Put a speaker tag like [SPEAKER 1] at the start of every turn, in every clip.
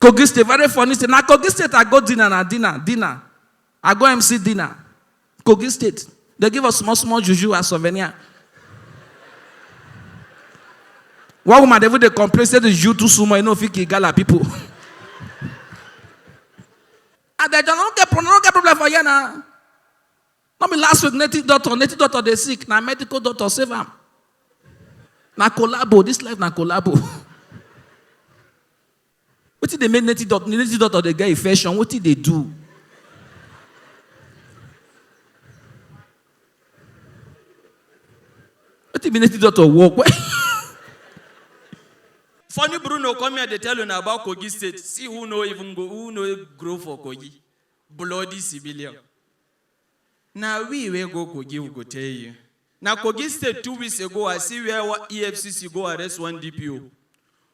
[SPEAKER 1] Kogi State, very funny state. Na Kogi State I go dinner na dinner, dinner. I go MC dinner. Kogi State. They give us small, small juju as souvenir. One woman, they would complain, say the juju too small, you know, if you gala people. and they don't get, don't get problem for you now. No be last week native doctor, native doctor dey sick, na medical doctor save am. Na collabo, this life na collabo. wetin dey make native doctor, native doctor dey get infection, wetin dey do? Wetin be native doctor work? Funny Bruno come here dey tell una about Kogi state, see who no even go, who no grow for Kogi, bloody civilian. Na we wey go Kogi we go tell you. Na Kogi state two weeks ago I see where EFCC go arrest one DPO.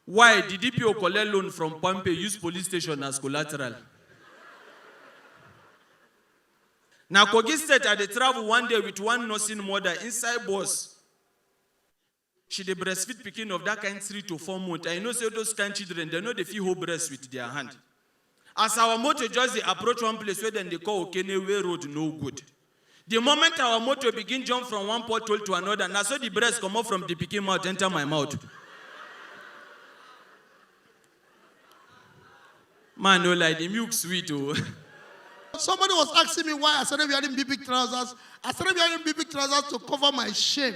[SPEAKER 1] Why? Di DPO collect loan from Palmpay use police station as collateral. Na Kogi state I dey travel one day with one nursing mother inside bus. She dey breastfeed pikin of that kind three to four months and you know say those kind children dem no dey fit hold breast with their hand. As our motor just dey approach one place wey dem dey call Okene wey road no good. The moment our motor begin jump from one pothole to another na so the breast comot from the pikin mouth enter my mouth. Man no lie, the milk sweet o. Oh. Somebody was asking me why I started wearing big big trousers. I started wearing big big trousers to cover my shame.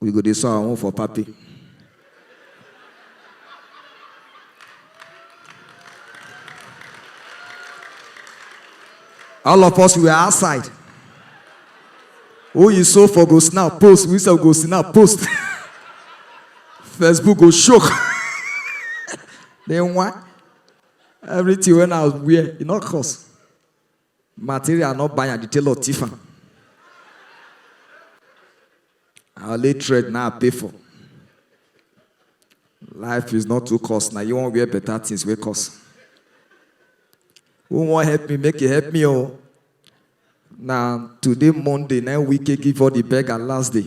[SPEAKER 1] We go dey saw our own for party. All of us we are outside. Who you saw for go snap post, we sef go snap post. Facebook go shock. then why? Everything when I wear, e no cost. Material no buy am, the tailor thief am. I only thread now I pay for. Life is not too cost. Now you won't wear better things wey cost. Who wan help me make e help me o. Na today Monday na im Wike give all the beggar last day.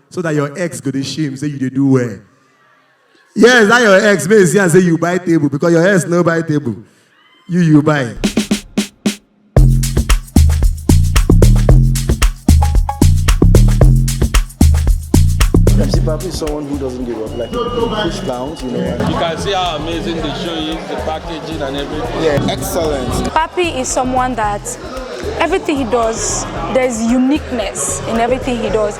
[SPEAKER 1] so that your ex go dey shame say you dey do well yes that your ex make you see am say you buy table because your ex no buy table you you buy. Ramsey Papi is someone who doesn't give up. Like, he push clowns, you know. and- You can see how amazing the show is, the packaging and everything. Yeah, excellent. Papi is someone that everything he does, there's uniqueness in everything he does.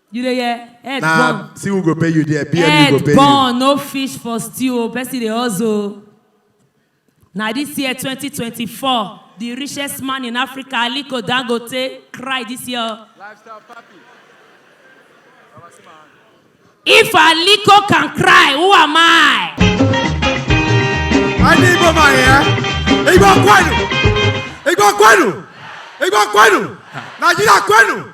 [SPEAKER 1] You dey hear? Head Na burn. see who go pay you there, BMU go Head pay you. burn, no fish for stew o, person dey hustle o. Na this year 2024, the richest man in Africa, Aliko Dangote, cry this year o. If Aliko can cry, who am I? Anyị Igbo ma ya. Igbo kwenu. Igbo kwenu. Igbo kwenu. Nigeria kwenu.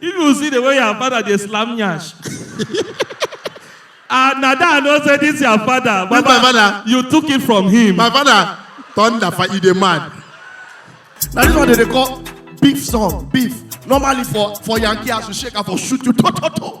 [SPEAKER 1] If you see the way your father dey slam nyash. and na that I know say this your father. This my father. You took it from him. My father thunder for you dey mad. Na this one dem dey call beef song beef. Normally for for Yankee house you shake am for shoot you to to to.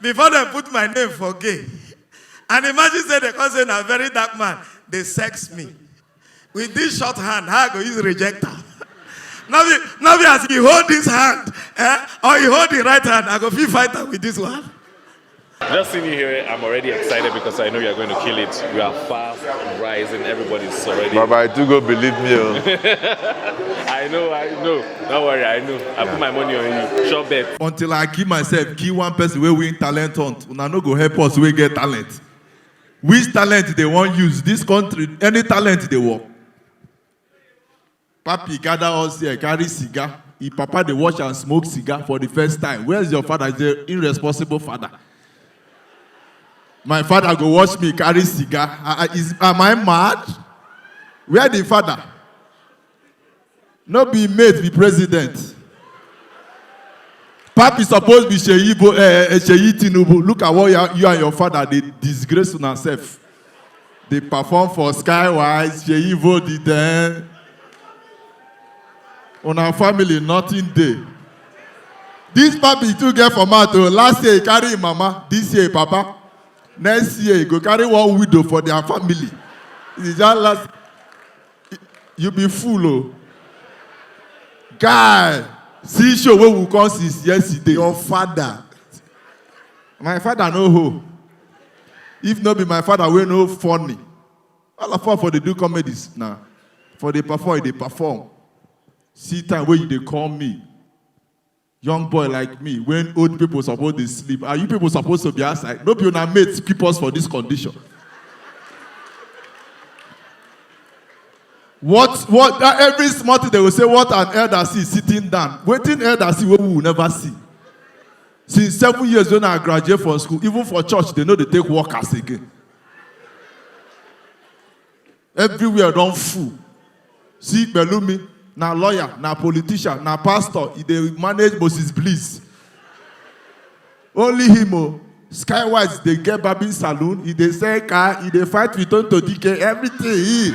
[SPEAKER 1] before dem put my name for gay and imagine say dem come say na very dark man dey sex me with this short hand how i go use reject am no be no be as you hold this hand eh or you hold the right hand i go fit fight am with this one. Just seeing you here, I'm already excited because I know you're going to kill it. You are fast, rising, everybody's already. Baba, I do go believe me. Oh. I know, I know. Don't worry, I know. I put my money on you. Sure bet. until i kill myself kill one person wey win talent hunt una no go help us wey get talent which talent dey wan use this country any talent dey work papi gather us here carry cigar him papa dey watch am smoke cigar for the first time where is your father he say irresponsible father my father go watch me carry cigar ah ah is am i mad where the father No be im mate be president. Papi suppose be Seyi Bo eh, eh, Seyi Tinubu. Look at what you, are- you and your father dey disgrace una sef. Dey perform for Skywise, Seyi Bo the den. Una family nothing dey. This papi too get for mouth o. Last year he carry im mama, this year im papa. Next year he go carry one widow for their family. He just last you be fool o guy see show wey we come since yesterday your father my father no hoe if no be my father wey no funny all of us for dey do comedies na for dey perform e dey perform see time wey you dey call me young boy like me when old people suppose dey sleep and you people suppose to be outside no be una mates keep us for this condition what what that every small thing they go say what an elder see sitting down wetin elder see wey we will never see since seven years when i graduate from school even for church they no dey take workers again Everywhere don full. See Pelumi, na lawyer, na politician, na pastor, e dey manage Moses Bliss. Only him o. Skywise dey get barbing saloon, e dey sell car, e dey fight with Tonto Dike, everything he.